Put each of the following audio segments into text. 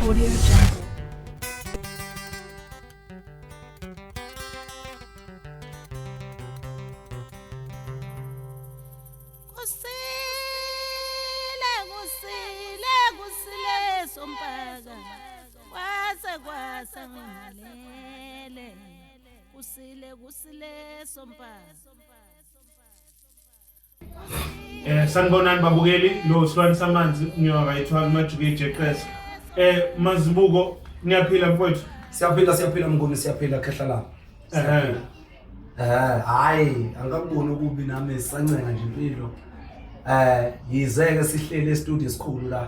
Audio Jungle. Kusile kusile kusile sompaka kwase kwase ngilele kusile kusile sompaka Eh sanibonani babukeli lo silwane samanzi ngiyowa kayithiwa kumajuke ijeqeza. Eh mazibuko niyaphila mfowethu. Siyaphila siyaphila mnguni siyaphila khehla la. Eh eh hayi angakuboni ukubi nami sancenga nje impilo. Eh yizeke sihlele e-studio esikhulu la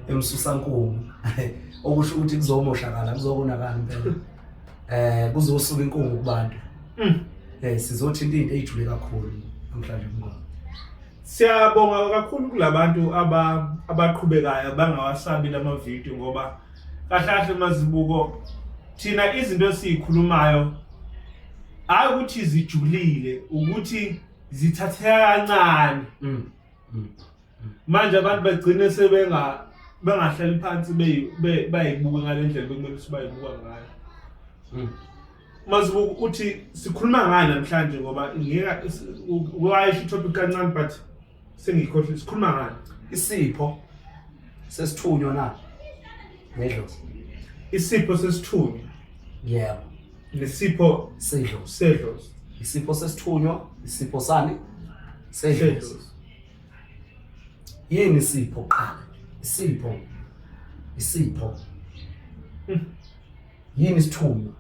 emsusankulu. Okusho ukuthi kuzomoshakala kuzokonakala impela. eh kuzosuka inkungu kubantu mm. eh sizothinta into ejule kakhulu namhlanje mngoma siyabonga kakhulu kulabantu aba abaqhubekayo bangawasabi lama video ngoba kahle kahle mazibuko thina izinto esizikhulumayo hayi ukuthi zijulile ukuthi zithatheka kancane mm. mm. manje abantu bagcine sebenga bengahlali phansi bayibuke ngale ndlela bekumele ukuthi bayibuka ngayo hmm. mazibuka ukuthi sikhuluma ngani namhlanje ngoba wayisho itopic kancane but sengiyikhohlile sikhuluma ngani isipho sesithunywa na nedlo isipho sesithunywa yebo nesipho sedlo sedlo isipho sesithunywa isipho sani sedlo Yini isipho qala? Isipho. Isipho. Hmm. Yini isithunywa?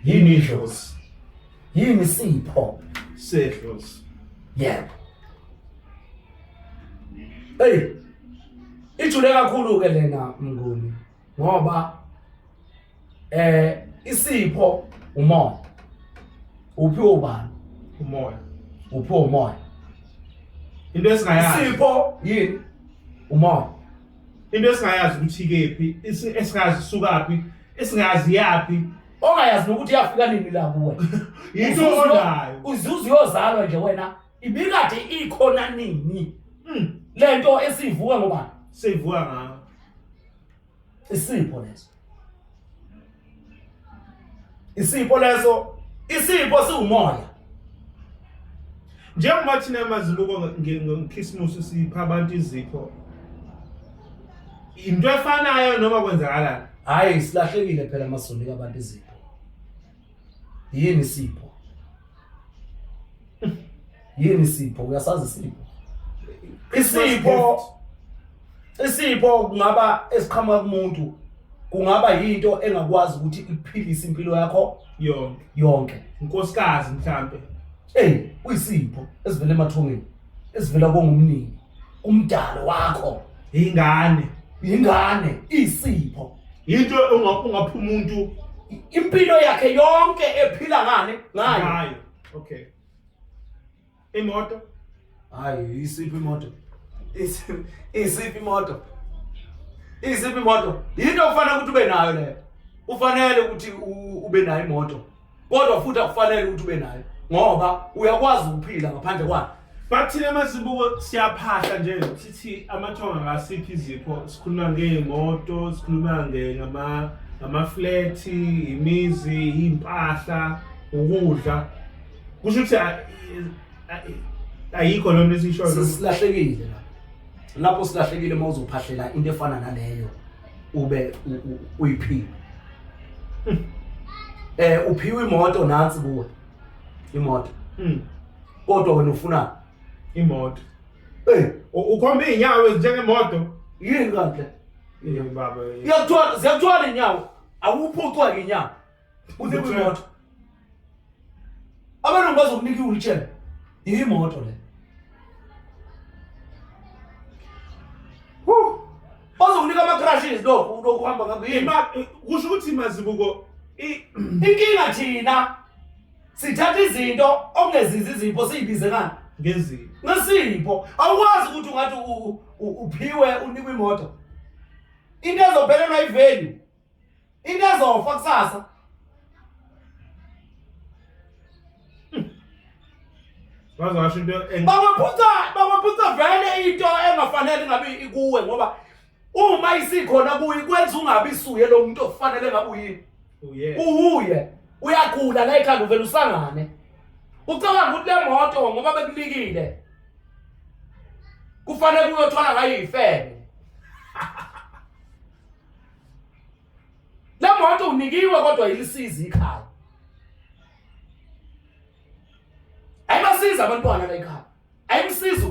Yini idlozi? Yini isipho? Sedlozi. Yebo. Hey. Ijule kakhulu ke lena mnguni. ngoba eh isipho umoya uphiwe ubani umoya uphiwe umoya into esingayazi isipho yini umoya into esingayazi ukuthi kephi esingazi sukaphi esingazi yaphi ongayazi nokuthi yafika nini la kuwe yinto onayo uzuze uyozalwa nje wena ibikade ikhona nini mm. lento esivuka ngoba sivuka ngayo isipho leso isipho leso isipho siwumoya njengoba thina amazibuko ngekhisimusi sipha abantu izipho into efanayo noma kwenzakalani hhayi silahlekile phela amasonto abantu izipho Yini Sipho? Yini Sipho? Uyasazi Sipho? Isipho isipho kungaba esiqhamuka kumuntu kungaba yinto engakwazi ukuthi ikuphilise impilo yakho yonke yonke unkosikazi mhlambe hey uyisipho esivela emathongeni esivela kongumnini umdalo wakho ingane ingane isipho into unga- ungaphuma umuntu I- impilo yakhe yonke ephila ngane ngayo ngayo okay imoto hayi isiphi imoto Isi- isiphi imoto isiphi imoto yinto okufanele ukuthi ube nayo leyo ufanele ukuthi u- ube nayo imoto kodwa futhi akufanele ukuthi ube nayo ngoba uyakwazi ukuphila ngaphandle kwayo but thina mazibuko siyaphahla nje sithi amathonga ngasiphi izipho sikhuluma ngey'moto sikhuluma ngamaflethi imizi iy'mpahla ukudla kusho ukuthi ayikho loo nto esiyishoyo silahlekile lapho silahlekile uma uzophahlela into efana naleyo ube uyiphiwe hmm. eh uphiwe imoto nansi kuwe imoto hmm. kodwa wena ufuna imoto eh ukhomba izinyawo ezinjengemoto yini kanti yini baba iyakuthwala ziyakuthwala inyawo awuphucwa inyawo unikwe imoto abelungu bazokunika i-wheelchair iyimoto le bazokunika ama-crashes lokhu lokhu uhamba ngakho yini Ima- eh, kusho ukuthi mazibuko i- inkinga thina sithatha izinto okungezizi izipho siyibize ngani ngezinto ngesipho awukwazi ukuthi ungathi u- u- uphiwe unikwe imoto into ezophelelwa ivalue into ezofa kusasa bazasho into babaphutha babaphutha vele into engafanele ngabe ikuwe ngoba uma isikhona kuyi kwenza ungabi suye lo muntu ofanele ngabe uyini uwuye uyagula la ekhanda uvela usangane ucabanga ukuthi le moto ngoba bekunikile kufanele uyothwala ngayo ifebe Le moto unikiwe kodwa ilisiza ikhaya. Ayibasiza abantwana la ikhaya. Ayimsiza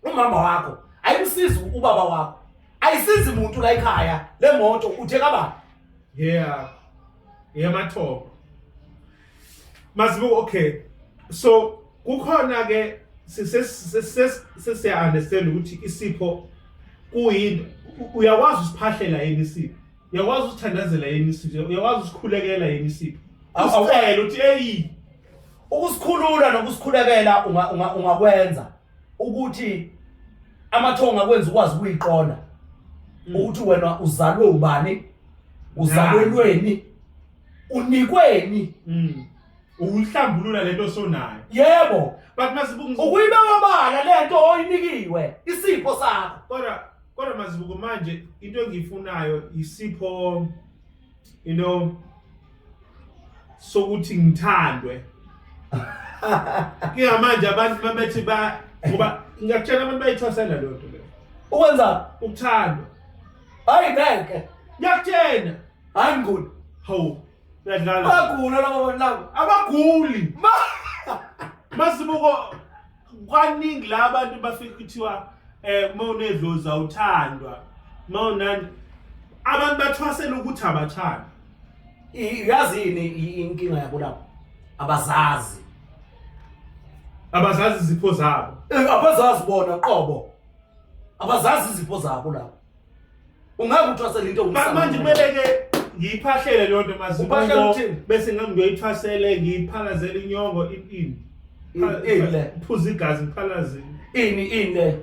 umama wakho, ayimsiza ubaba wakho. Ayisizi umuntu la ikhaya le moto uthe kabani? Yeah. Yemathobo. Mazibu okay. So kukhona ke sesiya understand ukuthi isipho kuyini uyakwazi usiphahlela yini isipho uyakwazi usithandazela yini isipho uyakwazi usikhulekela yini isipho awucela uthi eyi ukusikhulula nokusikhulekela ungakwenza ukuthi amathonga akwenza ukwazi ukuyiqonda ukuthi wena uzalwe ubani uzalwe lweni unikweni Mm. Ukuhlambulula lento osonayo. yebo But masibuku ngis- ukuyibeka obala lento oyinikiwe isipho sakho kodwa kodwa masibuku manje into engiyifunayo isipho you know sokuthi ngithandwe. Kuya manje abantu mabethi ba ngoba ngiyakutshela abantu bayithwasela lento le. ukwenza Ukuthandwa. hayi ngeke Ngiyakutshela. hayi ngigula hawu uyadlala bagula laba bantu laba abaguli masibuko kwaningi la abantu bafika kuthiwa eh uma unedlozi awuthandwa uma unani abantu bathwasela ukuthi abathanda uyazi yini inkinga yabo lapho abazazi abazazi izipho zabo Eh, abazazi bona qobo abazazi izipho zabo lapho Ungeke uthwasele into Ma- manje kumele ke ngiyiphahlele loo nto Uphahlela mazibuko ukuthini? bese ngam ngiyoyithwasele ngiyiphalazele inyongo i- ini Pha- Ini, ini le. phuza igazi ngiphalazile Ini ini le.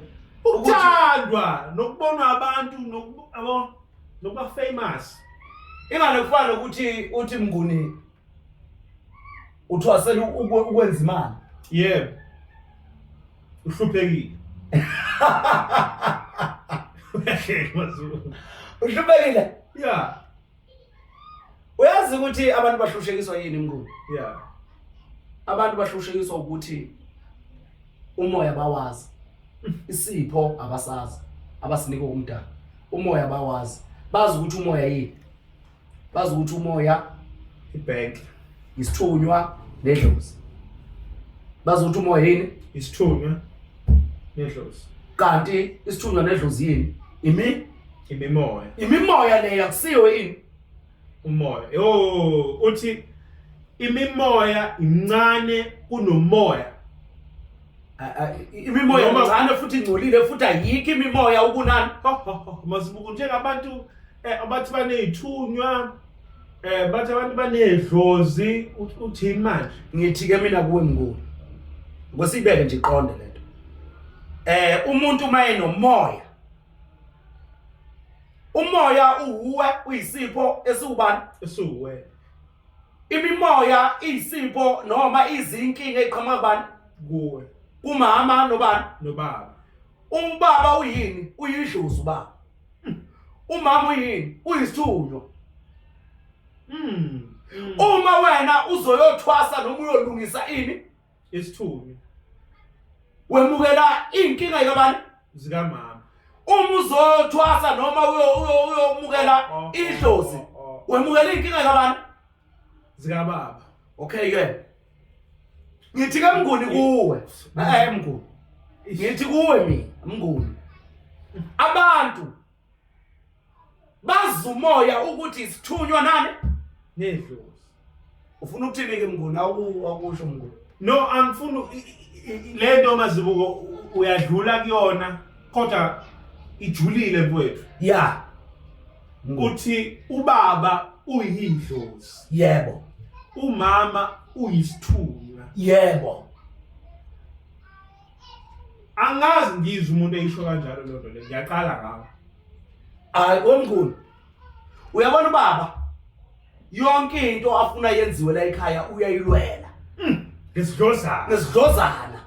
Ukuthi- ukuthandwa nokubonwa abantu nokuba- yabo, nokuba famous Ingane kufana nokuthi uthi mnguni uthwasela ukwenza imali yebo uhluphekile uhluphekile ya uyazi ukuthi abantu bahlushekiswa yini mngulu ya abantu bahlushekiswa ukuthi umoya bawazi isipho abasazi abasinika umdala umoya bawazi bazi ukuthi umoya yini bazi ukuthi umoya ibank isithunywa nedlozi bazi ukuthi umoya yini isithunywa nedlozi kanti isithunywa nedlozi yini imi imimoya imimoya leyo akusiyo yini umoya yo uthi imimoya incane kunomoya imimoya Noma- incane futhi ingcolile futhi ayikho imimoya ukunani Ho, ho, ho. masibuku njengabantu eh, abathi baney'thunywa um bathi abantu banedlozi Uth- uthini manje ngithi-ke mina kuwe mnguni ngosiyibeke nje iqonde le nto um umuntu uma enomoya umoya uwuwe uyisipho esiwubani esiwuwena Imimoya iyisipho noma izinkinga eqhamuka kubani? Kuwe. Kumama nobani? Nobaba. Umbaba uyini? Uyidlozi ubaba. Hmm. Umama uyini? Uyisithunywa. Mm. Uma wena uzoyothwasa noma uyolungisa ini? isithunywa wemukela inkinga yabani zikamama uma uzothwasa noma uyomukela oh, oh, idlozi oh, wemukela inkinga yabani zikababa okay ke ngithi ke mnguni kuwe eh mnguni ngithi kuwe mina mnguni abantu bazi umoya ukuthi isithunywa nani nedlozi ufuna ukuthini ke mnguni awukusho mnguni no angifuni le nto mazibuko uyadlula kuyona kodwa ijulile mfowethu ya ukuthi ubaba uyidlozi yebo umama uyisithunywa yebo angazi ngizwe umuntu eyisho kanjalo loo nto le ngiyaqala ngawo hayi omkhulu uyabona ubaba yonke into afuna yenziwe la ekhaya uyayilwela hmm, ngesidlozana ngesidlozana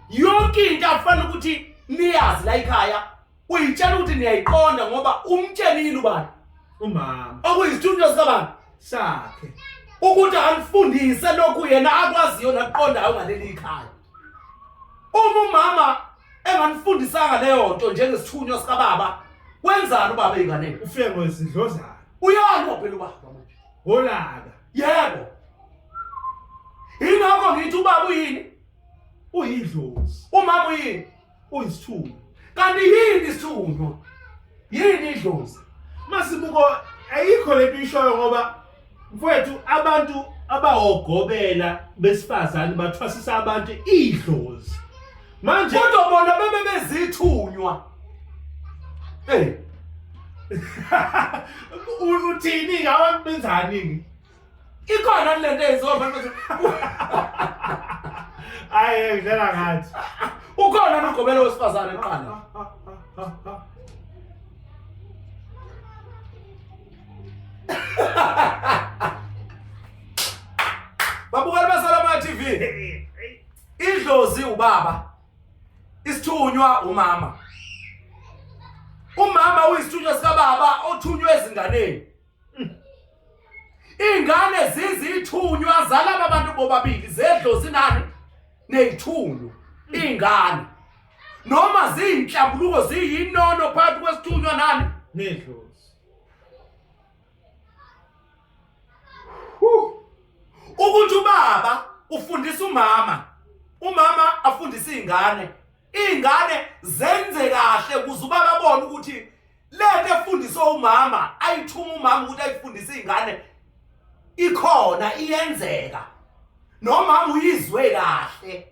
yonke into afana ukuthi niyazi la ekhaya uyitshela ukuthi niyayiqonda ngoba umtshelile ubani umama okuyisithunywa sikabani sakhe ukuthi alifundise lokhu yena akwaziyo naqondayo ngaleli ikhaya uma umama enganifundisanga leyo nto njengesithunywa sikababa wenzani ubaba eyinganeni ufike ngezidlozana uyalwa phela ubaba manje holaka yebo yingakho ngithi ubaba uyini uyidlozi umama uyini uyisithunywa kanti yini isithunywa yini idlozi masibuko ayikho lento ishoyo ngoba mfowethu abantu abawogobela besifazane bathwasisa abantu idlozi manje kodwa bona bebe bezithunywa eh uthini ngawe benzani ikhona lento eyenziwa abantu hayi ngidlela ngathi ukhona nogobela wesifazane qala babukeli basalama TV idlozi ubaba isithunywa umama umama uyisithunywa sikababa othunywa ezinganeni Ingane zizithunywa zalaba bantu bobabili zedlo zinani nezithunywa ingane noma ziyinhlambuluko ziyinono phakathi kwesithunywa nani nedlozi ukuthi ubaba ufundisa umama umama afundise izingane izingane zenze kahle kuze ubaba abone ukuthi lento efundiswe umama ayithuma umama ukuthi ayifundise izingane ikhona iyenzeka nomama uyizwe kahle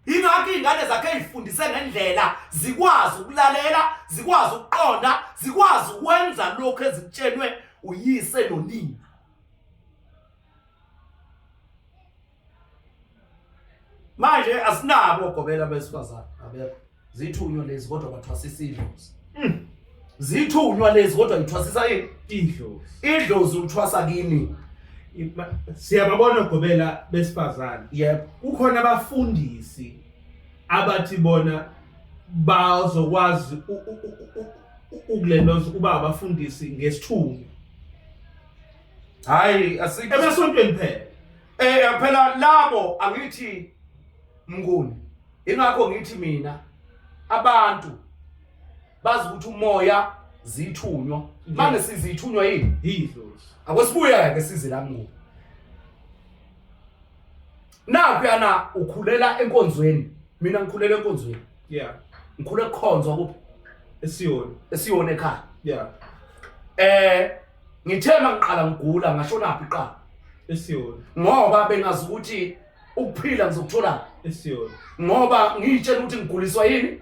ingakho izingane zakhe ezifundise ngendlela zikwazi ukulalela zikwazi ukuqonda zikwazi ukwenza lokho ezikutshelwe uyise nonina manje asinabo ogobela besifazane abekho zithunywa lezi kodwa bathwasisa idlozi hmm. zithunywa lezi kodwa ngithwasisa idlozi idlozi uthwasa kimi siyababona ogobela besifazane yebo kukhona abafundisi abathi bona bazokwazi ukulendoza ukuba abafundisi ngesithunywa hayi asike emasontweni phela eh phela labo angithi mnguni ingakho ngithi mina abantu bazi ukuthi umoya zithunywa manje sizithunywa yini yidlozi akwesibuya ke size la mnguni Naphiyana ukhulela enkonzweni. Mina ngikhulela enkonzweni. Yeah. Ngikhule kukhonzwa kuphi? Esiyona. Esiyona ekhaya. Yeah. Eh ngithe mangiqala ngigula ngashona phi qala? Esiyona. Ngoba bengazi ukuthi ukuphila ngizokuthola esiyona. Ngoba ngiyitshela ukuthi ngiguliswa yini?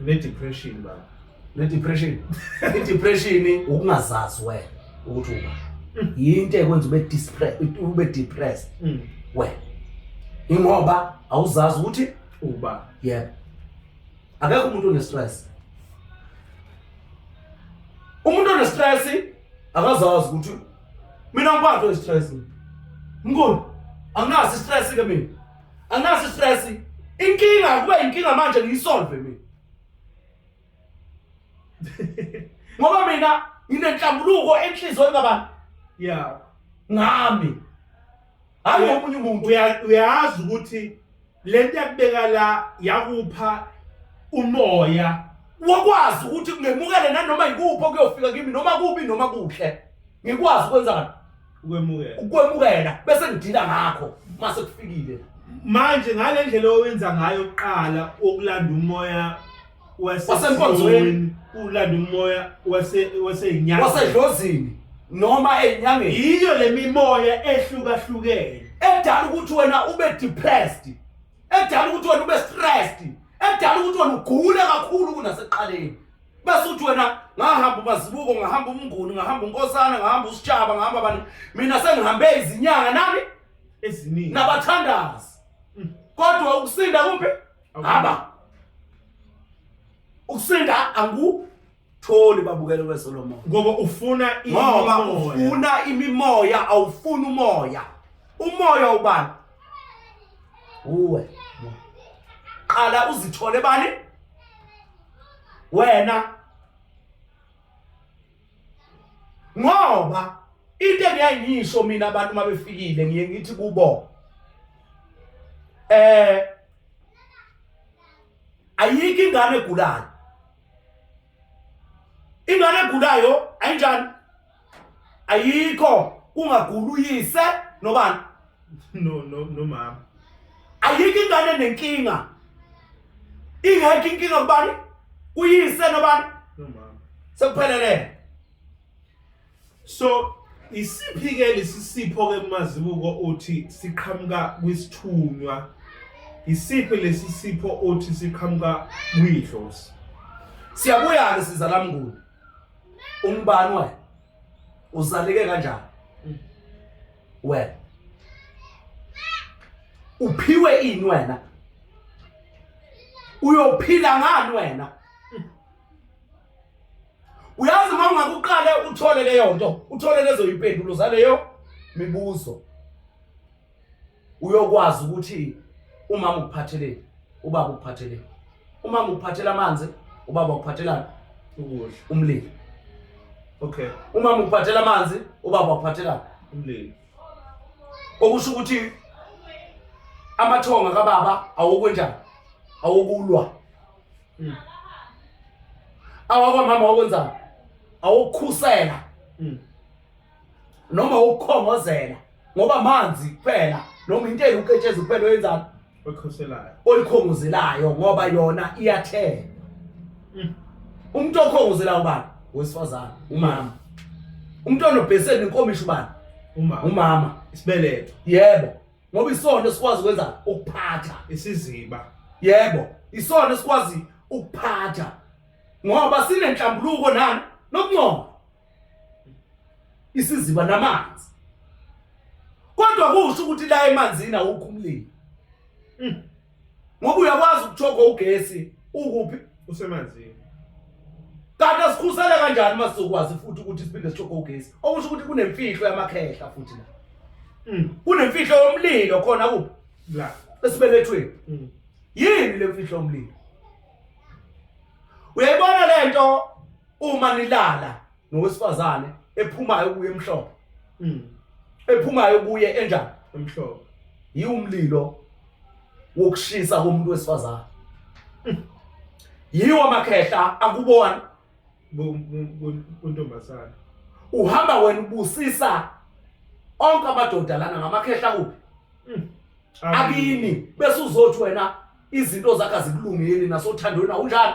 ne-depression baba ne-depression i-depression ukungazazi wena ukuthi uba mm. yinto ekwenza ube depressed mm. wena ingoba awuzazi ukuthi uba yebo akekho umuntu onestress umuntu onestress akazazi ukuthi mina ngiphathwe istress mkhulu anginaso istress ke mina anginaso istress inkinga kube inkinga manje ngiyisolve mina ngoba mina nginenhlambuluko enhlizweni kabantu ya ngami hayi omunye umuntu Uya- uyazi ukuthi le nto yakubeka la yakupha umoya wakwazi ukuthi ngemukele nanoma yikuphi okuyofika kimi noma kubi noma kuhle ngikwazi ukwenzani ukwemukela ukwemukela bese ngidila ngakho mase kufikile manje ngale ndlela owenza ngayo kuqala okulanda umoya wasenkonzweni ulanda umoya wase wasenyanga wasedlozini noma enyangeni yiyo lemimoya ehlukahlukene edala ukuthi wena ube depressed edala ukuthi wena ube stressed edala ukuthi wena ugule kakhulu kunaseqaleni bese uthi wena ngahamba umazibuko ngahamba umnguni ngahamba unkosana ngahamba usitshaba ngahamba abantu mina sengihambe izinyanga nami eziningi nabathandazi mm. kodwa ukusinda kuphi Haba. Ukusinda angu tholi babukele weSolomon. Ngoba ufuna ngoba ufuna imimoya awufuni umoya. Umoya ubani? Uwe. Qala uzithole bani? Wena ngoba into engiyaye ngiyisho mina abantu uma befikile ngiye ngithi kubo eh ayikho ingane egulayo ingane egulayo ayinjani ayikho kungagula uyise nobani no no no mama ayikho ingane nenkinga ingekho inkinga kubani kuyise nobani no mama sekuphelele so isiphi ke lesisipho ke mazibuko uthi siqhamuka kwisithunywa isiphi lesisipho uthi siqhamuka kwidlozi siyabuya ke sizalamnguni umbani wayo usalike kanjani mm. wena uphiwe ini wena uyophila ngani wena mm. uyazi uma ungakuqale uthole leyo nto uthole lezo yimpendulo zaleyo mibuzo uyokwazi ukuthi umama ukuphatheleni ubaba ukuphatheleni umama ukuphathela amanzi ubaba ukuphathelani ukudla umlilo okay umama ukuphathela amanzi ubaba ukuphathelani umlilo okusho ukuthi amathonga kababa awokwenjani awokulwa hmm. awakwamama awokwenzani awokukhusela hmm. noma ukukhongozela ngoba manzi kuphela noma into eyuketsheza kuphela oyenzani oyikhoselayo oyikhongozelayo ngoba yona iyathela mm. umuntu okhongozelayo ubani wesifazane umama umuntu onobheseni inkomisho ubani umama umama isibeletho yebo ngoba isona sikwazi ukwenza ukuphatha isiziba yebo isona sikwazi ukuphatha ngoba sinenhlambuluko nani nokuncoba isiziba namanzi kodwa kusho ukuthi la emanzini awukho umlilo hmm. ngoba uyakwazi ukuthoga ugesi ukuphi usemanzini kanti asikhusele kanjani uma sizokwazi futhi ukuthi siphinde sithoge ugesi okusho ukuthi kunemfihlo yamakhehla futhi la hmm. kunemfihlo yomlilo khona kuphi la esibelethweni hmm. yini le mfihlo yomlilo uyayibona le nto uma nilala nowesifazane ephumayo kuye emhlophe Mm. ephumayo kuye enjani Emhlophe. yiwumlilo wokushisa komuntu wesifazane Mm. yiwo amakhehla akubona Bu- bu- bu- Kuntombazane. uhamba wena ubusisa onke amadoda lana ngamakhehla kuphi Mm. akini bese uzothi wena izinto zakhe azikulungeli nasothandweni awunjani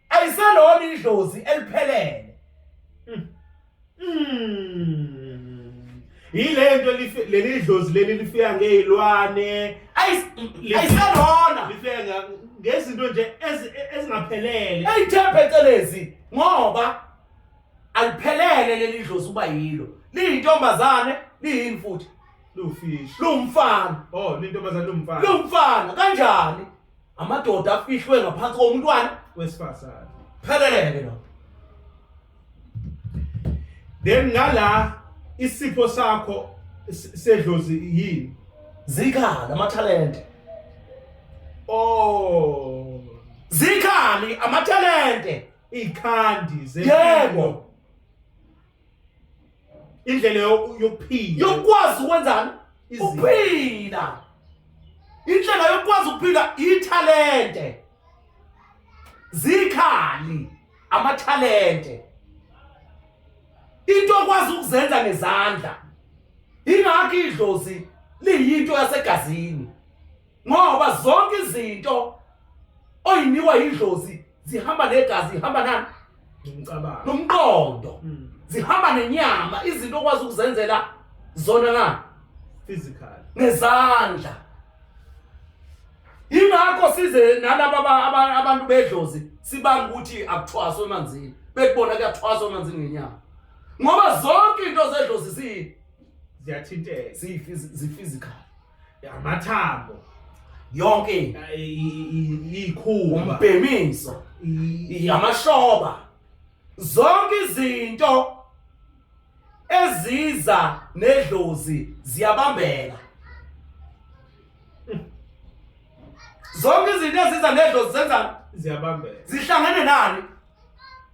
ayiselona idlozi eliphelele hmm. Hmm. yilento leli dlozi leli lifika ngezilwane ayiselona lifika ngezinto nje ezingaphelele ayithembe celezi ngoba aliphelele leli dlozi uba yilo liyintombazane liyini futhi lufish lumfana oh lintombazane lumfana lumfana kanjani amadoda afihlwe ngaphansi komntwana wesifazane pheleleke lo then ngala isipho sakho sedlozi yini zikhala amathalente oh zikhali amathalente ikhandi zelo indlela yokuphila yokwazi ukwenzani ukuphila indlela yokwazi ukuphila ithalente zikhali amathalente into okwazi ukuzenza ngezandla ingakho idlozi liyinto yasegazini ngoba zonke izinto oyinikwa idlozi zihamba negazi zihamba nani nomcabango nomqondo mm. zihamba nenyama izinto okwazi ukuzenzela zona na physical nezandla ingakho size nalabo abantu bedlozi sibanga ukuthi akuthwaswa emanzini bekubona kuyathwaswa emanzini ngenyama ngoba zonke into zedlozi ziyini ziyathinteka ziyiphysical amathambo yonke ikhumba umbhemiso yamashoba zonke izinto eziza nedlozi ziyabambeka zonke izinto eziza nedlozi zenza ziyabambeka zihlangene nani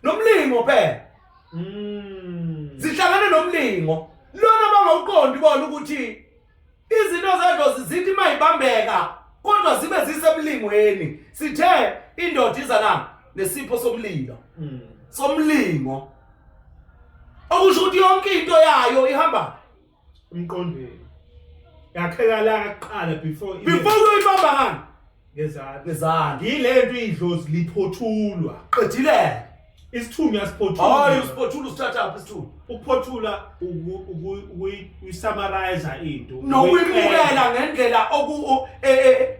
nomlingo phela mm. zihlangene nomlingo lona bangawuqondi bona ukuthi Izinto zedlozi zithi mayibambeka kodwa zibe zisebulingweni. Sithe indoda iza na nesipho somlilo. Mm. Somlingo. Okusho ukuthi yonke into yayo ihamba emqondweni. Yakheka la kuqala before before uyibamba ngani? ngezansi ngezansi yilento idlozi liphothulwa qedile isithunywa siphothulwa hayi usiphothula usithatha apha isithunywa ukuphothula ukuyisamariza into nokuyibukela ngendlela oku e, e,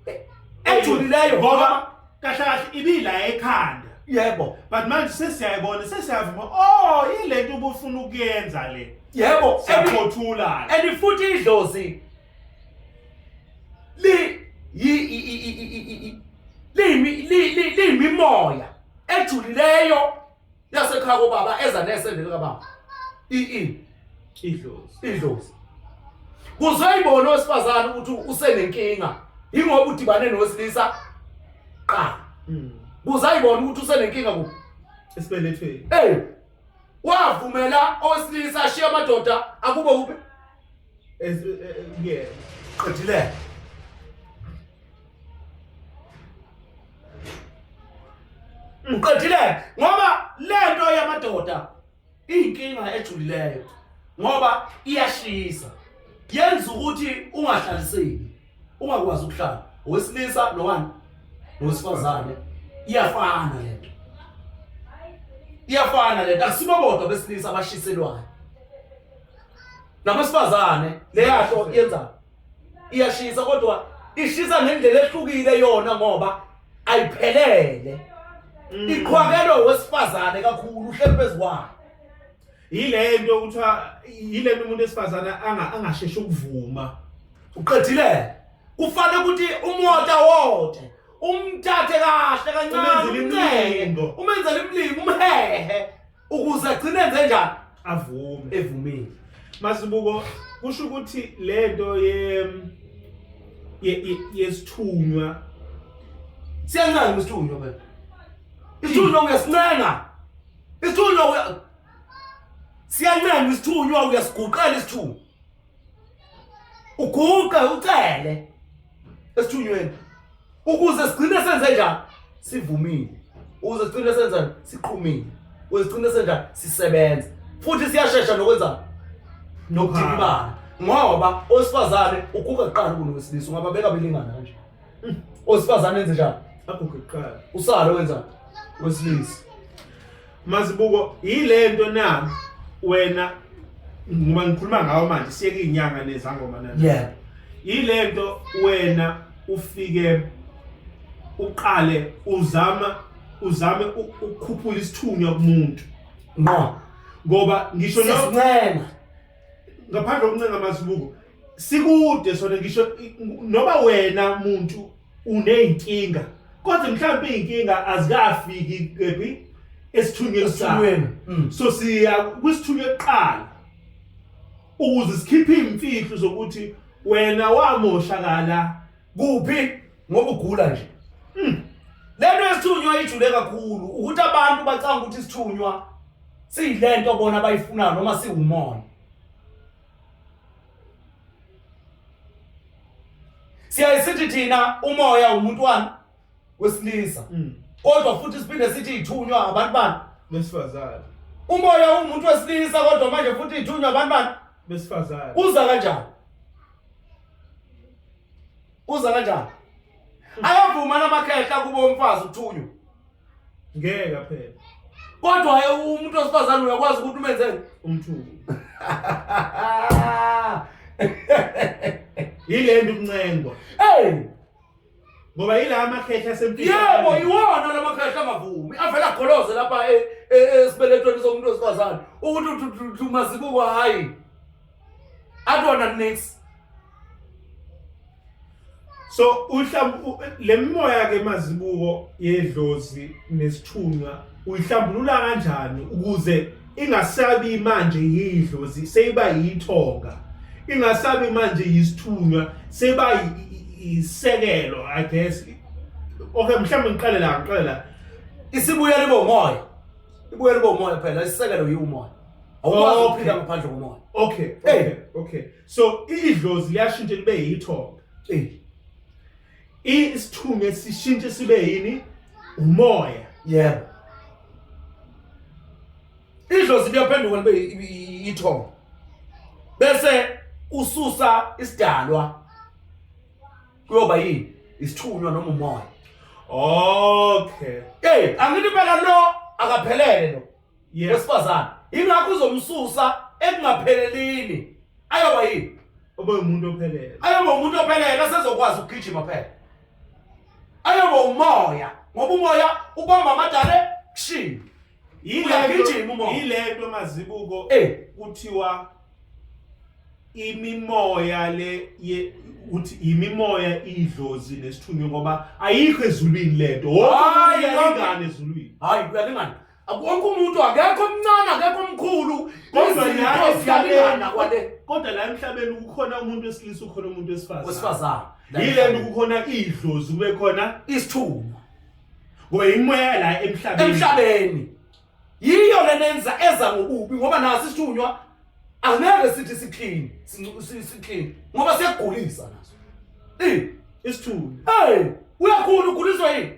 e, ejulileyo ngoba kahle kahle ibila ekhanda yebo but manje sesiyayibona sesiyavuma oh yilento ubufuna ukuyenza le yebo siyaphothula and futhi idlozi liyimimoya ejulileyo yasekhaya kobaba eza nesendele kababa iini idlozi kuzoyibona owesifazane ukuthi usenenkinga yingoba udibane nowesilisa qala hmm. kuzayibona ukuthi usenenkinga kuphi esibelethweni eyi wavumela owesilisa ashiye amadoda akube uphi kuyena qedilele ngiqedilele ngoba lento yamadoda iyinkinga ejulileyo ngoba iyashisa yenza ukuthi ungahlaliseki ungakwazi ukuhlala owesilisa nowani nowesifazane iyafana lento iyafana lento akusibobodwa besilisa abashiselwayo nabesifazane leyasho yenza iyashisa kodwa ishisa ngendlela ehlukile yona ngoba ayiphelele mm. iqhwakelwe wesifazane kakhulu uhleli phezu kwayo yile nto kuthiwa yile nto umuntu esifazane angasheshi ukuvuma uqedile kufanele ukuthi umota wote umthathe kahle kancane umncenge umenzele imlingo umhehe ukuze agcine enze njani avume evumile masibuko kusho ukuthi lento ye yesithunywa siyenzani isithunywa phela isithunywa ngesincenga Isithunywa uya siyancenga isithunywa uyasiguqela isithunywa. Uguqe ucele esithunyweni ukuze sigcine senze njani sivumile ukuze sigcine senza siqhumile ukuze sigcine senza sisebenza futhi siyashesha nokwenza nokudikibala ngoba owesifazane ukuka kuqala kunowesilisa ungababeka belingana kanje Osifazane enze njani? Aguge kuqala. Usalo wenza wesilisa. Mazibuko yilento na wena ngoba ngikhuluma ngawo manje siyeke inyanga nezangoma nani. Yeah. Yilento wena ufike uqale uzama uzame ukukhuphula isithunywa kumuntu. Ngqo. Ngoba ngisho no. Ngaphandle okuncenga mazibuko sikude sona ngisho noma wena muntu unezinkinga kodwa mhlawumbe izinkinga azikafiki kephi esithunyweni sakho mm. so siya kwisithunywe kuqala ukuze sikhiphe imfihlo zokuthi wena wamoshakala kuphi ngoba ugula nje mm. lento yesithunywa ijule kakhulu ukuthi abantu bacanga ukuthi isithunywa siyilento bona abayifunayo noma siwumona siyaye sithi thina umoya wumntwana wesilisa mm. kodwa futhi siphinde sithi ithunywa abantu bani besifazane umoya umuntu wesilisa kodwa manje futhi ithunywa abantu bani besifazane uza kanjani Uza kanjani? Ayavuma namakhehla kubo umfazi uthunywa. Ngeke phela. Kodwa hayi umuntu osifazane uyakwazi ukuthi umenzeni umthuko. Yilento ukuncengwa. Hey! Ngoba yila amakhehla sempilo. Yebo, iwona lamakhehla angavumi. Avela goloze lapha e- e- esibeletweni somuntu osifazane ukuthi uthi uthi- uthi umazibuko hayi. akona next so uhlambu lemimoya ke mazibuko yedlozi nesithunqa uyihlambulula kanjani ukuze ingasabi manje yidlozi seyiba yithonga ingasabi manje yisithunqa seyiba isekelo i guess okay mhlawumbe ngiqale la ngiqale la isibuya libomoya ibuya libomoya phela isisekelo yiwumoya awukwazi Okay. ukuphila ngaphandle komoya okay Hey. okay okay so idlozi liyashintsha libe yithonga Eh, isithume sishintshe sibe yini umoya yebo idlozi liyaphenduka libe i- i- i- ithonga bese ususa isidalwa kuyoba yini isithunywa noma umoya okay hey angithi phela lo akaphelele lo Yeah. wesifazane yingakho uzomsusa ekungaphelelini ayoba yini Obe umuntu ophelele. ayoba umuntu ophelele asezokwazi ukugijima phela ayoba umoya ngoba umoya ubamba amadale kushiye Uyagijima umoya. Yilento mazibuko Eh. kuthiwa imimoya le ye uthi imimoya idlozi nesithunywe ngoba ayikho ezulwini lento. Wonke umuntu Hayi, uyalingana ezulwini. hayi uyalingana Wonke umuntu akekho omncane akekho omkhulu kodwa la emhlabeni kwale kodwa la emhlabeni kukhona umuntu wesilisa ukhona umuntu wesifazane wesifazane yile nto kukhona idlozi kube khona isithuku ngoba imoya la emhlabeni emhlabeni yiyo lenenza eza ngokubi ngoba nasi isithunywa angeke sithi siclean siclean ngoba siyagulisa naso eh isithunywa hey uyakhula uguliswa yini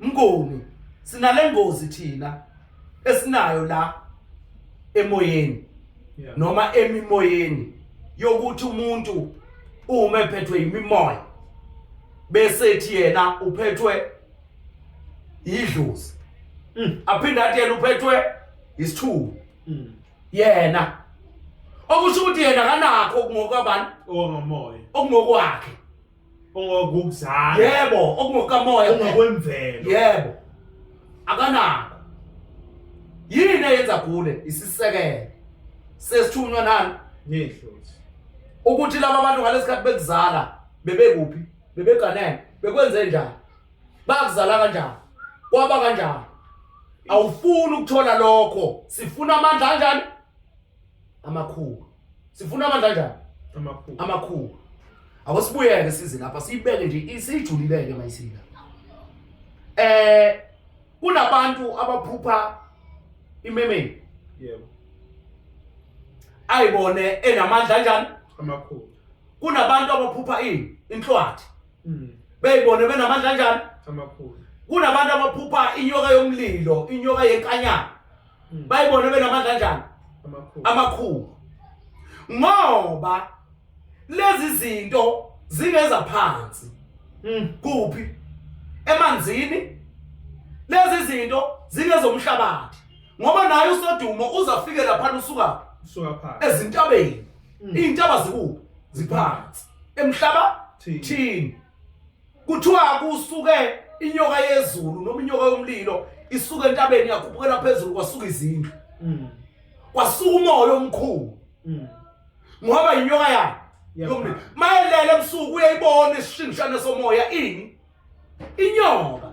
Mnguni sinale ngozi thina esinayo la emoyeni yeah. noma emimoyeni yokuthi umuntu uma ephethwe imimoya bese ethi yena uphethwe idlozi mm. aphinde athi yena uphethwe isithuku mm. yena okusho ukuthi yena kanakho ngokwabani ongomoya ongokwakhe ongokuzala yebo okungokamoya ongokwemvelo yebo akanako yini eyenza gule isisekelo sesithunywa nani nidlozi ukuthi laba bantu ngalesikhathi bekuzala bebekuphi bebeganene bekwenze njani bakuzala kanjani kwaba kanjani awufuni ukuthola lokho sifuna amandla kanjani amakhulu sifuna amandla kanjani amakhulu amakhulu awasibuyeke size lapha siyibeke nje isijulileke mayisika eh kunabantu abaphupha imemeni yebo ayibone enamandla kanjani amakhulu kunabantu abaphupha ini inhlwathi mm. beyibone benamandla kanjani amakhulu kunabantu abaphupha inyoka yomlilo inyoka yenkanyana Mm. bayibona benamandla kanjani amakhulu ngoba lezi zinto zingeza phansi mm. kuphi emanzini lezi zinto zingezomhlabathi ngoba naye usodumo uzafike lapha usuka usuka phansi ezintabeni mm. intaba zikuphi ziphansi emhlaba thini kuthiwa kusuke inyoka yezulu noma inyoka yomlilo isuke entabeni yakhuphukela phezulu kwasuka izindlu mm. kwasuka umoya omkhulu mm. ngoba inyoka yakhe yomlilo mayelele ebusuku uyayibona isishingishane somoya ini inyoka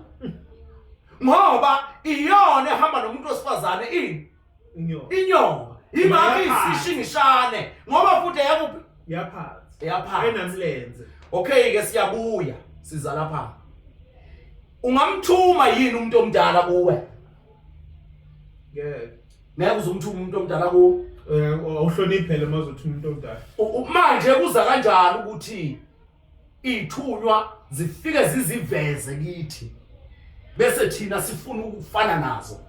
ngoba iyona ehamba nomuntu wesifazane ini inyongo inyongo imake isishingishane ngoba futhi eyakuphi yaphansi eyaphansi enamlenze okay ke siyabuya siza lapha ungamthuma yini umuntu omdala kuwe ngeke ngeke uzumthuma umuntu omdala kuwe eh, awuhloniphele mazothuma umuntu omdala manje kuza kanjani ukuthi Ithunywa zifike ziziveze kithi bese thina sifuna ukufana nazo.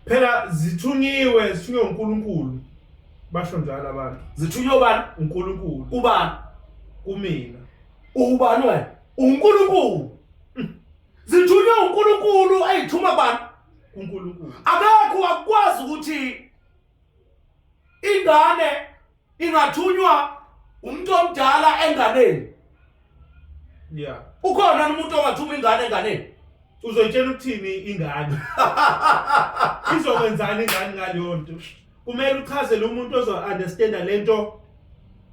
Phela zithunyiwe, zithunywe uNkulunkulu. Basho njalo abantu. Zithunywe ubani? uNkulunkulu. Ubani? Kumina. Ubani wena? uNkulunkulu zithunywe uNkulunkulu ayithuma bani uNkulunkulu akekho wakwazi ukuthi ingane ingathunywa umuntu omdala enganeni yeah ukhona umuntu ongathuma ingane enganeni uzoyitshela ukuthini ingane izokwenzani ingane ngaleyo nto kumele uchazele umuntu ozo-understanda le nto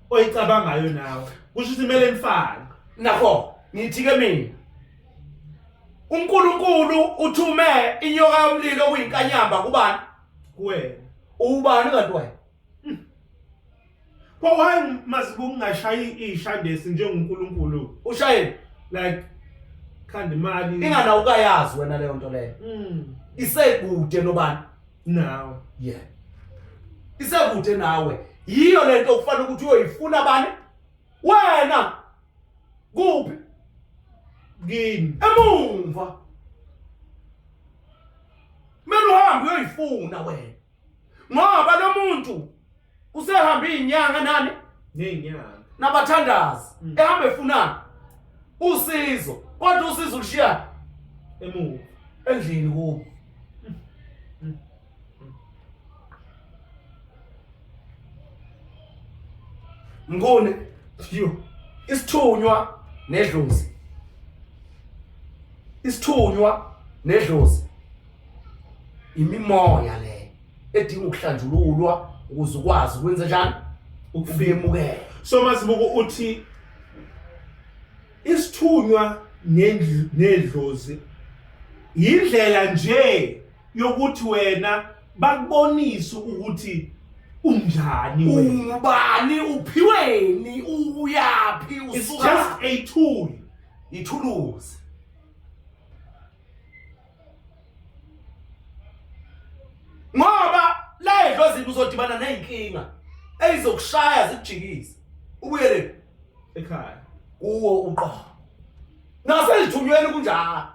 oyicabangayo nawe kusho ukuthi kumele nifane nakho ngithi-ke mina unkulunkulu uthume inyoka yomlilo okuyinkanyamba kubani kuwena ubani kanti wayo pho why masibe ungashayi ishandesi njengoNkulunkulu ushayele like khanda imali ingana ukayazi wena leyo nto leyo mm isekude nobani nawe yeah isekude nawe yiyo lento okufanele ukuthi uyoyifuna bani wena kuphi kini emumva kumele uhambe uyoyifuna wena ngoba lo muntu usehambe iy'nyanga nani ney'nyanga nabathandazi mm. ehamba efunani usizo kodwa usizo ulushiyani emuva endlini kubo Mnguni you isithunywa nedlozi isithunywa nedlozi imimoya le edinga ukuhlanjululwa ukuze ukwazi ukwenza njani ukufemukela so mazibuko uthi isithunywa nedlozi yindlela nje yokuthi wena bakubonise ukuthi unjani wena ubani uphiweni uyaphi it's just usuka a tool ithuluzi ngoba la edlozini uzodibana ney'nkinga eyizokushaya zikujikise ubuyele ekhaya kuwo uqobo naselithunyweni kunjalo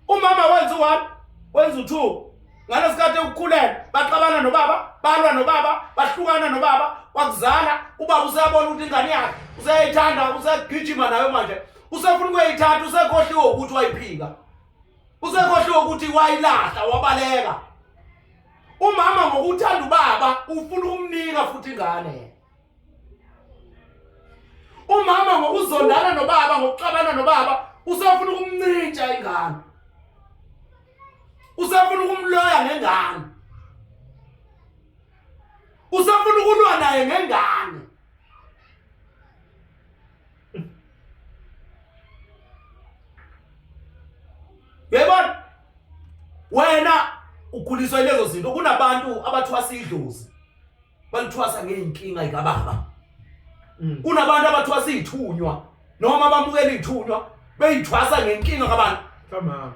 umama wenza u-one wenza u-two ngalesikhathi ekukhulele baxabana nobaba balwa nobaba bahlukana nobaba wakuzala ubaba useyabona ukuthi ingane yakhe useyayithanda usegijima nayo manje usefuna ukuyayithatha usekhohliwe ukuthi wayiphika usekhohliwe ukuthi wayilahla wabaleka umama ngokuthanda ubaba ufuna ukumnika futhi ingane umama ngokuzondana nobaba ngokuxabana nobaba usafuna ukumncintsha ingane usafuna ukumloya ngengane usafuna ukulwa naye ngengane yebona wena ukhuliswa ilezo zinto kunabantu abathwasa idlozi balithwasa ngeyinkinga ikababa mm. kunabantu abathwasa izithunywa noma bamukela izithunywa beyithwasa ngenkinga kabantu kamama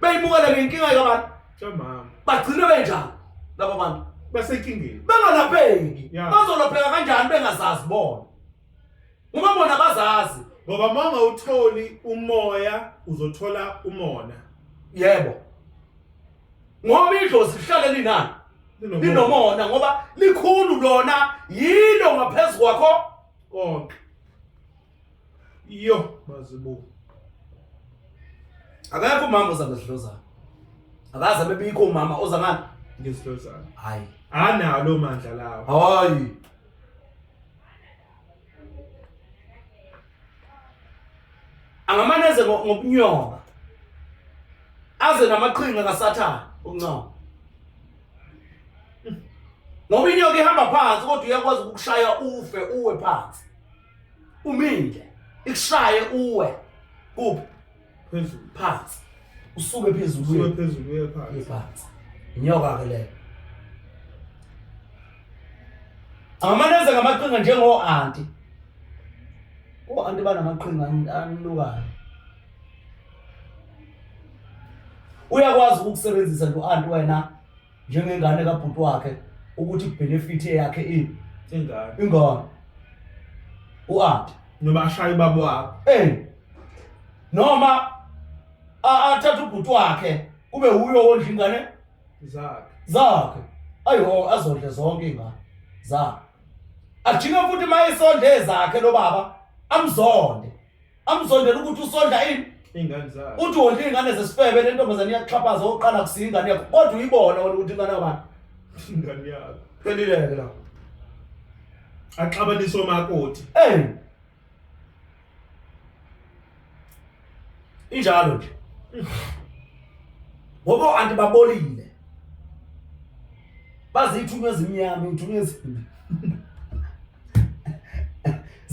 beyimukela ngenkinga kabantu kamama bagcine benjalo laba bantu basenkingeni bengalapheki bazolapheka kanjani bengazazi bona Uma bona bazazi ngoba uma ungawutholi umoya uzothola umona. Yebo. Ngoba idlozi lihlale linani? Linomona. Linomona ngoba likhulu lona yilo ngaphezulu kwakho konke. Yo mazibuku. Akekho umama oza ngesidlozana. Akaze bebikho umama oza ngani? Ngesidlozana. Hayi. Analo mandla lawo. Hayi. angamane eze ngokunyoba aze namaqhinga kasathane uncoma ngoba inyoka ihamba phansi kodwa uyakwazi ukukushaya ufe uwe phansi uminde ikushaye uwe kuphi phezulu phansi usuke phezulu usuke uye phezulu uye phansi phansi inyoka ke leyo angamaneze ngamaqhinga njengo-anti o-anti banamaqhinga an- anukayo uyakwazi ukukusebenzisa lo-anti wena njengengane kabhuti wakhe ukuthi benefit yakhe ini ingane ingane uArt noma ashaya ubaba wakhe eh noma athatha ubhuti wakhe kube uyo wondla ingane zakhe zakhe ayo azondle zonke ingane zakhe ajike futhi mayesondle zakhe lo baba amzonde amzondela ukuthi usondla ini ingane zakhe uthi wondla ingane zesifebe lentombazane iyaxhaphaza oqala kusiya ingane yakho kodwa uyibona wena ukuthi ingane yabani ingane yakho phelileke la axabanisa omakoti hey injalo nje ngoba anti babolile bazithunywa ezimnyama ithunywa ezimbi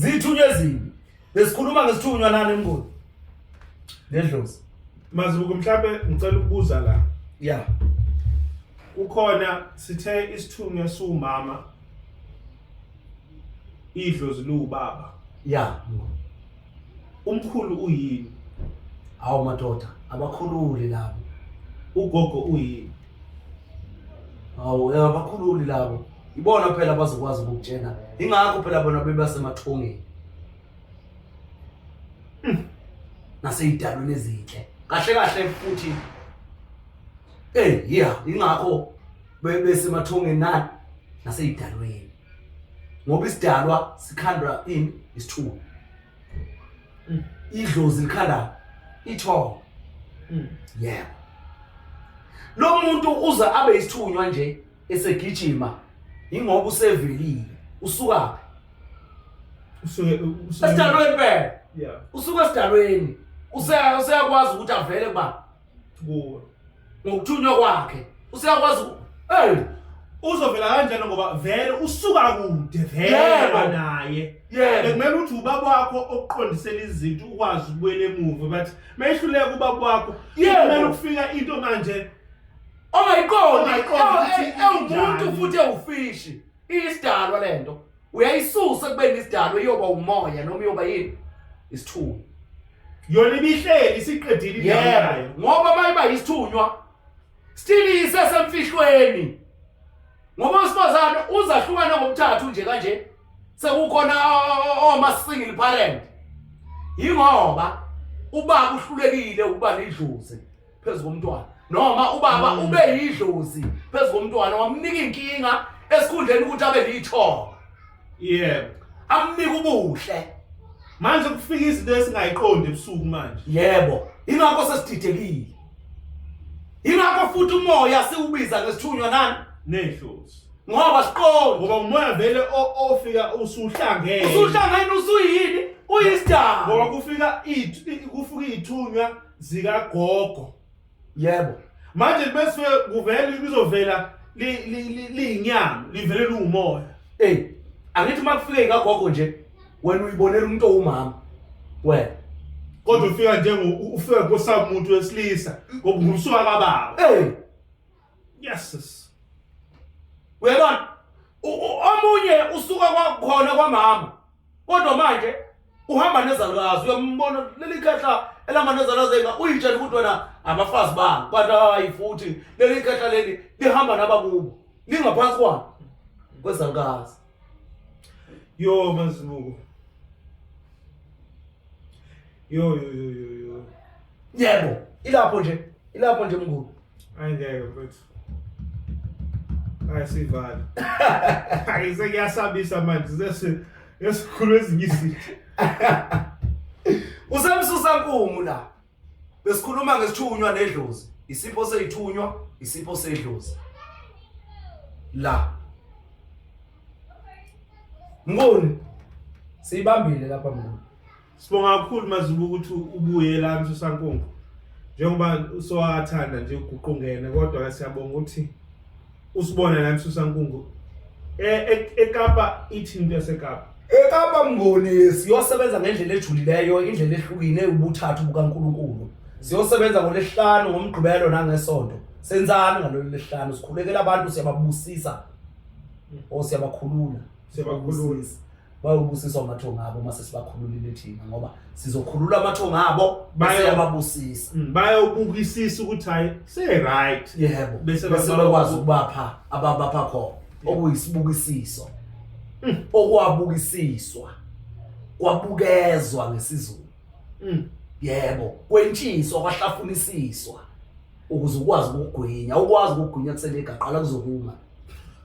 zithunywa ezimbi besikhuluma ngesithunywa nani emngoni nedlozi mazibuko mhlawumbe ngicela ukubuza la ya kukhona sithe isithunywa siwumama idlozi liwubaba ya umkhulu uyini awu madoda abakhululi labo ugogo uyini Hawu, abakhululi labo. Ibona phela abazokwazi ukukutshena. Ingakho phela bona bebasemathongeni. Hmm. Naseyidalweni ezinhle. Kahle kahle futhi Eh, yeah, ingakho besemathongeni na naseyidalweni. Ngoba isidalwa sikhandwa ini isithulu. mm. idlozi likhala ithongo mm. yeah lo muntu uza abe isithunywa nje esegijima ingoba usevelile usuka usuke usuke esidalweni phela yeah usuka esidalweni useyakwazi ukuthi avele kuba kuwe ngokuthunywa kwakhe useyakwazi hey uzovela kanjani ngoba vele usuka kude vele naye bekumele ukuthi ubaba wakho okuqondisela izinto ukwazi ukubuyela emuva bathi mayehluleka ubaba wakho kumele ukufika into manje ongayiqondi ewumuntu futhi ewufishi iyisidalwa lento uyayisusa kubeni isidalwa iyoba umoya noma iyoba yini isithunywa yona ibihleli isiqedile iyayo ngoba mayiba isithunywa still isesemfihlweni ngoba usifazane uzahlukana ngomthathu nje kanje sekukhona oma single parent yingoba ubaba uhlulekile ukuba lidluze phezu komntwana noma ubaba mm. ube yidlozi phezu komntwana wamnika inkinga esikhundleni ukuthi abe lithonga yebo amnika ubuhle manje kufika izinto esingayiqondi ebusuku manje yebo ingakho sesididekile ingakho futhi umoya siwubiza ngesithunywa nani nehlozi ngoba siqondi ngoba umoya vele ofika usuhlangene usuhlangene usuyini uyisdaba ngoba kufika ithu kufika ithunywa zikagogo yebo manje bese kuvela lizovela liyinyama livele liwumoya ey angithi uma kufike ikagogo nje wena uyibonela umuntu owumama wena kodwa ufika njengo ufika kosamuntu wesilisa ngoba ngumsuka kababa ey Yes. Uyabona? Omunye usuka kwakhona kwamama. Kodwa manje uhamba nezalwazi uyombona leli khehla elihamba nezalwazi enga uyitshela ukuthi wena abafazi bani but hayi futhi leli khehla leli lihamba nabakubo lingaphansi kwani kwezalukazi Yo mazibuko. Yo yo yo yo yo. Yebo, ilapho nje. Ilapho nje mngulu. Angeke mfethu. Ayisivali. Ayise kuyasabisa manje sese yesikhulu ezinyisile. Usemsusa nkumu la. Besikhuluma ngesithunywa nedlozi, isipho seyithunywa, isipho sedlozi. La. Ngoni siyibambile lapha mngoni. Sibonga kakhulu mazibuka ukuthi ubuye la msusankungu. Njengoba usowathanda nje uguqungene kodwa ke siyabonga ukuthi Usibona la emsusa nkungu. Eh e- eKapa ithini into yaseKapa? ekapa mngoni siyosebenza ngendlela ejulileyo indlela ehlukile ubuthathu bukankulunkulu siyosebenza ngolesihlanu ngomgqibelo nangesonto senzani ngalolu lesihlanu sikhulekela abantu siyababusisa or siyabakhulula Siyabakhulula. Sibabusisa. bayobusiswa amathongo abo uma sesibakhululile thina ngoba sizokhulula amathongo abo bese yababusisa mm, bayobukisisa ukuthi hayi se-right yebo bese bakwazi ukubapha ababapha khona okuyisibukisiso mm. okwabukisiswa kwabukezwa ngesizulu mm. yebo kwentshiswa kwahlafunisiswa ukuze ukwazi ukugwinya ukwazi ukugwinya kuselegaqala kuzokuma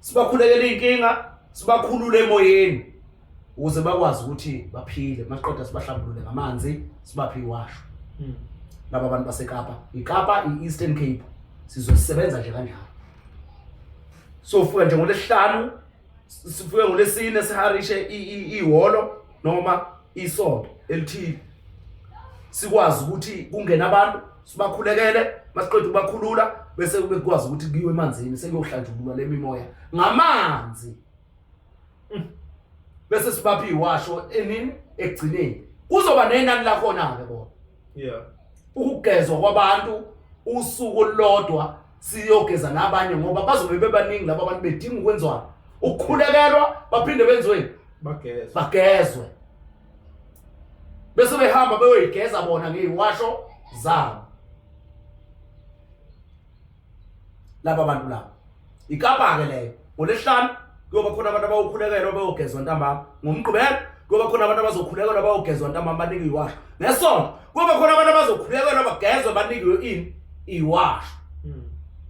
sibakhulekela iy'nkinga sibakhulule emoyeni ukuze bakwazi ukuthi baphile masiqeda sibahlambulule ngamanzi sibaphe iwasho hmm. laba bantu basekapa ikapa i-eastern cape sizosebenza nje kanjalo sofuka nje ngolesihlanu sifike ngolesine siharishe ihholo noma isonto elithile sikwazi ukuthi kungena abantu sibakhulekele masiqeda ukubakhulula bese kube kwazi ukuthi kuyiwe emanzini sekuyohlanjululwa le mimoya ngamanzi mm. bese sibaphi iwasho enini ekugcineni kuzoba nenani lakhona-ke bona yeah ukugezwa kwabantu usuku olulodwa siyogeza nabanye ngoba bazobe bebaningi laba bantu bedinga ukwenziwa ukukhulekelwa baphinde benziweni bagezwe bagezwe bese behamba beyoyigeza bona ngeyiwasho zabo laba bantu laba ikapa ke leyo ngolesihlanu kuyoba khona abantu abawukhulekelwa bayogezwa ntambama ngomgqibelo kuyoba khona abantu abazokhulekelwa bayogezwa ntambama banikwe iwasho ngesonto kuyoba khona abantu abazokhulekelwa bagezwe banikwe ini iwasho hmm.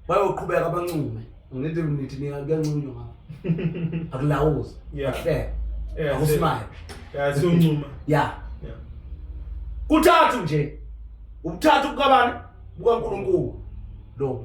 bayoqhubeka bancume ngithi nithi niyakuyancunywa ngapha akulawuzi ahleke akusimayo siyoncuma ya kuthathu nje ukuthathu kukabani bukankulunkulu lo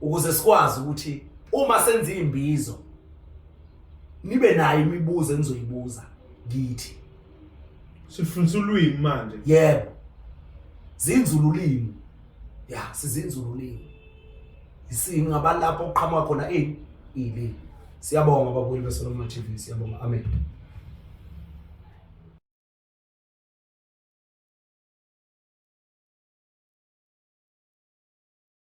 ukuze sikwazi ukuthi uma senza imbizo nibe nayo imibuzo enizoyibuza kithi sifundisa ulwimi manje yebo zinzula ulimi ya sizinzula ulimi singaba lapho oqhamuka khona ini ilimi siyabonga babuyile beSolomon TV siyabonga amen